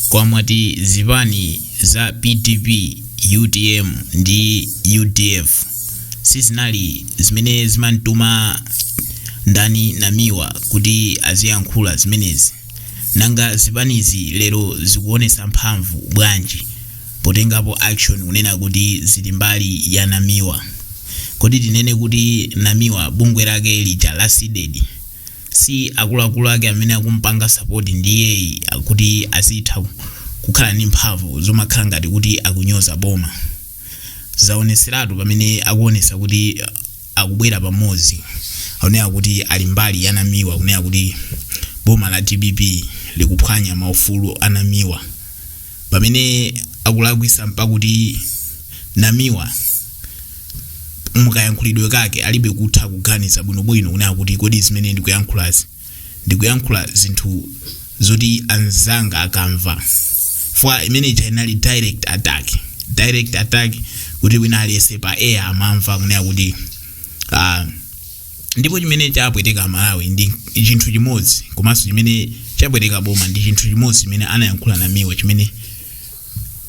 Kwamwati zipani za pdp, utm ndi udf sizinali zimene zimantuma ndani namiwa kuti aziyankhula zimenezi nanga zipanizi lero zikuonesa mphamvu bwanji potengapo action kunena kuti zili mbali ya namiwa kodi tinene kuti namiwa bungwe lake lija la CDEDI si akuluakulu ake amene akumpanga sapoti ndi iyeyi kuti azitha kukhala ndi mphamvu zomakhala ngati kuti akunyoza boma zaoneseratu pamene akuonesa kuti uh, akubwera pamodzi akunena kuti ali mbali ya namiwa akunena kuti boma la dpp likuphwanya maufulu a namiwa pamene akulakwisa mpakuti namiwa mukayankhulidwe kake alibe kutha kuganiza bwinobwino kunena kuti kodi zimene ndikuyankhulazi ndikuyankhula zinthu zoti anzanga akamva chifukwa imene ija inali direct attack direct attack kuti wina aliyese pa air amamva kunena kuti uh, ndipo chimene chapweteka malawi ndi chinthu chimodzi komanso chimene chapweteka boma ndi chinthu chimodzi chimene anayankhula namiwa chimene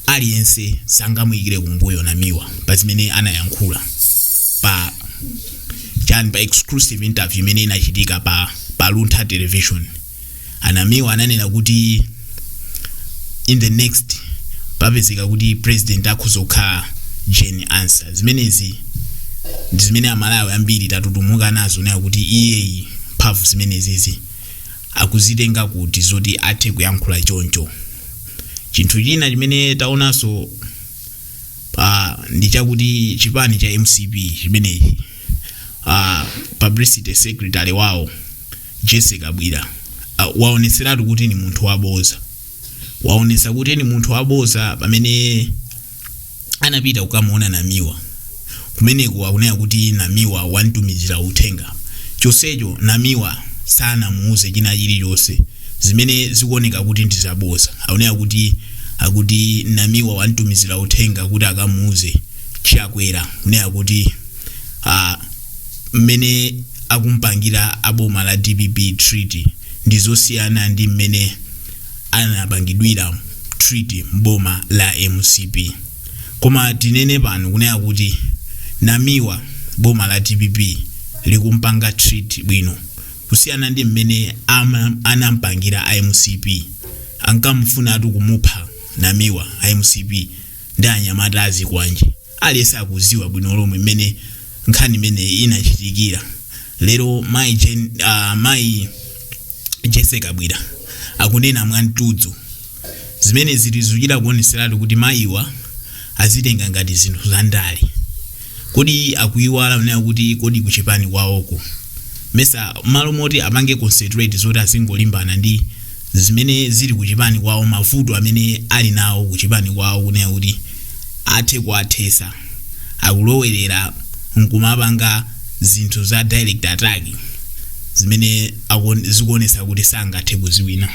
aliyense sangamuyikire kumbuyo namiwa pa zimene anayankhula pa chani pa exclusive interview imene inachitika pa pa luntha television a namiwa ananena kuti in the next papezeka kuti president akhoza kukhala jane ansah zimenezi ndi zimene amalawi ambiri tatutumuka nazo ndiye kuti iyeyi mphamvu zimenezizi akuzitenga kuti zoti athe kuyankhula choncho chinthu china chimene taonanso ah, ndi chakuti chipani cha mcp chimenechi ah, publicity secretary wawo jessie kabwila ah, waoneseratu kuti ni munthu waboza waonesa kuti ni munthu waboza pamene anapita kukamuona namiwa kumeneko akunena kuti namiwa wantumizira uthenga chonsecho namiwa sanamuuze china chilichonse zimene zikuoneka kuti ndizaboza akunena kuti akuti namiwa wantumizira uthenga kuti akamuuze chakwera kunena kuti ah, mmene akumpangira aboma la dpp treat ndi zosiyana ndi mmene anapangidwira treat mboma la mcp koma tinene pano kunena kuti namiwa boma la dpp likumpanga treat bwino kusiyana ndi mmene ama- anampangira a mcp ankamufunatu kumupha namiwa a mcp ndi anyamata azikwanje aliyense akuziwa bwino lomwe mmene nkhani imene inachitikira lero mayi Jen- ah, mayi Jessie Kabwila akunena mwamtudzu zimene zili zochita kuoneseratu kuti mayiwa akuzitenga ngati zinthu za ndale kodi akuyiwala kunena kuti kodi kuchipani kwawoko mmesa m'malo moti apange concentrate zoti azingolimbana ndi zimene zili kuchipani kwawo mavuto amene ali nawo kuchipani kwawo kunena kuti athe kuwathesa akulowerera nkumapanga zinthu za direct attack zimene akuon- zikuonesa kuti sangathe kuziwina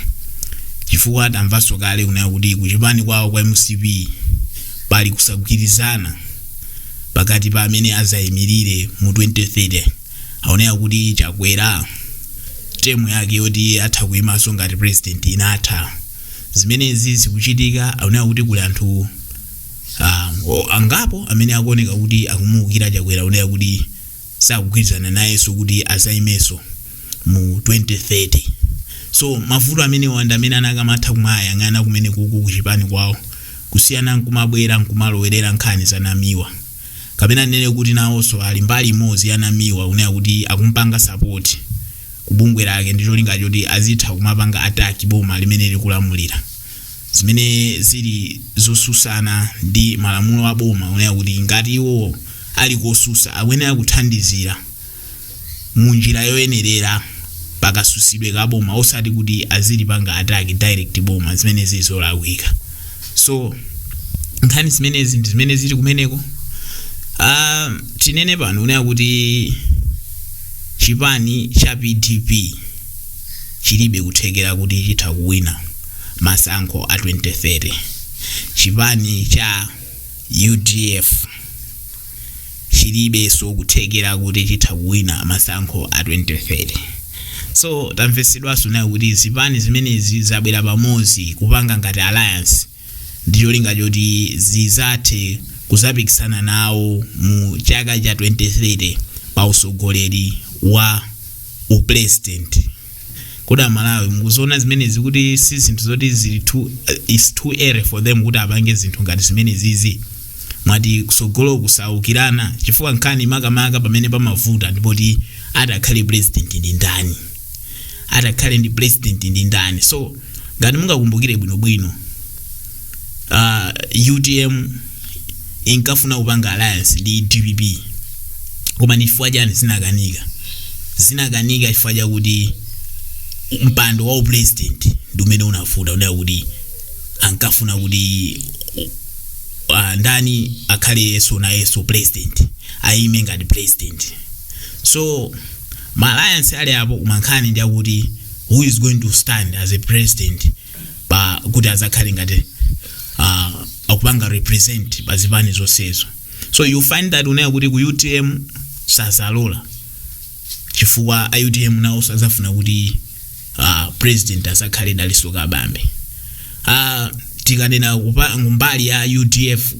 chifukwa tamvanso kale kunena kuti kuchipani kwawo kwa MCP pali kusagwirizana pakati pa amene azaimirire mu 2030 aoneka kuti Chakwera temu yake yoti atha kuyimanso ngati president inatha zimenezi zikuchitika aoneka kuti kuli anthu Ah, o- angapo amene akuoneka kuti akumuukira Chakwera aoneka kuti sakugwirizana nayenso kuti azaimenso mu 2030 so mavuto amenewa nda amene anakamatha kumayang'ana kumenekuku kuchipani kwawo kusiyana nkumabwera nkumalowerera nkhani za Namiwa kapena tinene kuti nawonso ali mbali imodzi ya Namiwa kunena kuti akumpanga support kubungwe lake ndi cholinga choti azitha kumapanga attack boma limene likulamulira zimene zili zosusana ndi malamulo a boma kunena kuti ngati iwo ali kosusa akuyenera kuthandizira mu njira yoyenerera pakasusidwe ka boma osati kuti azilipanga attack direct boma zimene zili zolakwika so nkhani zimenezi ndi zimene zili kumeneko Ah, tinene pano kunena kuti chipani cha PDP chilibe kuthekera kuti chitha kuwina masankho a 2030 chipani cha UDF chilibeso kuthekera kuti chitha kuwina masankho a 2030 so tamvesedwaso nazo kuti zipani zimenezi zabwera pamodzi kupanga ngati alliance ndi cholinga choti zizathe kuzapikisana nawo mu chaka cha 2030 pa usogoleri wa upresident kodi aMalawi mukuziona zimenezi kuti si zinthu zoti zili is too early for them kuti apange zinthu ngati zimenezizi mwati kusogolo kuzaukirana chifukwa nkhani makamaka pamene pamavuta ndipoti atakhale president ndi ndani atakhale ndi president ndi ndani so ngati mungakumbukire bwinobwino uh, utm inkafuna kupanga alliance ndi dpp koma ndi chifukwa chani zinakanika zinakanika chifukwa chakuti mpando wa upresident ndi umene unavuta kunena kuti ankafuna kuti uh, ndani akhale yesu na yesu president ayime ngati president so ma alliance ali apo koma nkhani ndi yakuti who is going to stand as a president pa kuti azakhale ngati uh, akupanga represent pa zipani zonsezo so you find that kunena kuti ku utm sazalola chifukwa a utm nawonso azafuna kuti uh, president azakhale dalitso kabambe uh, tikanena kupa- kumbali ya udf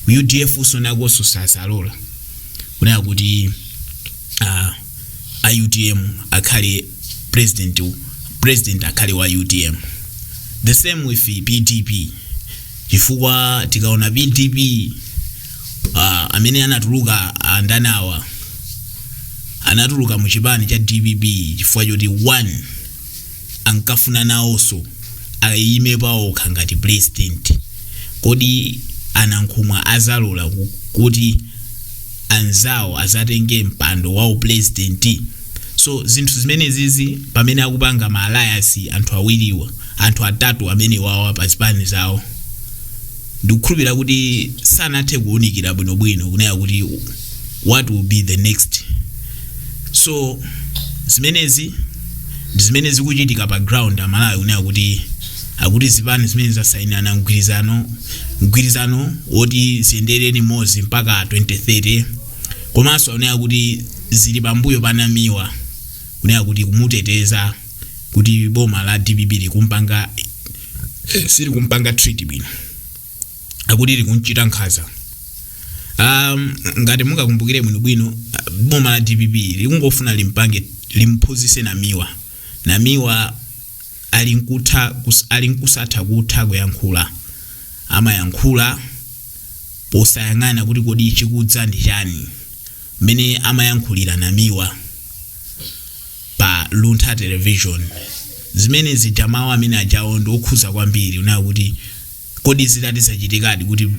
udf usonakonso sazalola kunena kuti uh, a utm akhale president president akhale wa utm the same with pdp chifukwa tikaona pdp uh, amene anatuluka andani awa anatuluka mu chipani cha dpp chifukwa choti one ankafuna nawonso ayime paokha ngati president kodi anankhumwa azalola ku- kuti anzawo azatenge mpando wa upresident so zinthu zimenezizi pamene akupanga ma alliance anthu awiriwa anthu atatu amene wawa pa zipani zawo ndikukhulupirira kuti sanathe kuwunikira bwinobwino kunena kuti what will be the next so zimenezi ndi zimene zikuchitika pa ground amalawi kunena kuti akuti zipani zimene zasayinirana mgwirizano mgwirizano woti ziyendere limodzi mpaka 2030 komanso akunena kuti zili pambuyo pa namiwa kunena kuti kumuteteza kuti boma la dpp likumpanga sili kumpanga treat bwino akuti likunchita nkhaza um, ngati mungakumbukire bwino bwino ah, boma la dpp likungofuna limpange limphunzitse namiwa namiwa ali nkutha kus- ali nkusadziwa kutha kuyankhula amayankhula posayang'ana kuti kodi chikudza ndi chani mmene amayankhulira namiwa pa Luntha Television. Zimene zija mawu amene ajawo ndi okhuza kwambiri kunena kuti kodi zitati zachitikadi kuti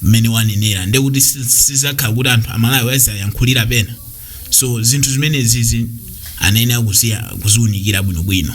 mmene wanenera ndiye kuti si- sizakhala kuti anthu amalawi azayankhulira pena so zinthu zimenezizi anayenera kuziya- kuziunikira bwinobwino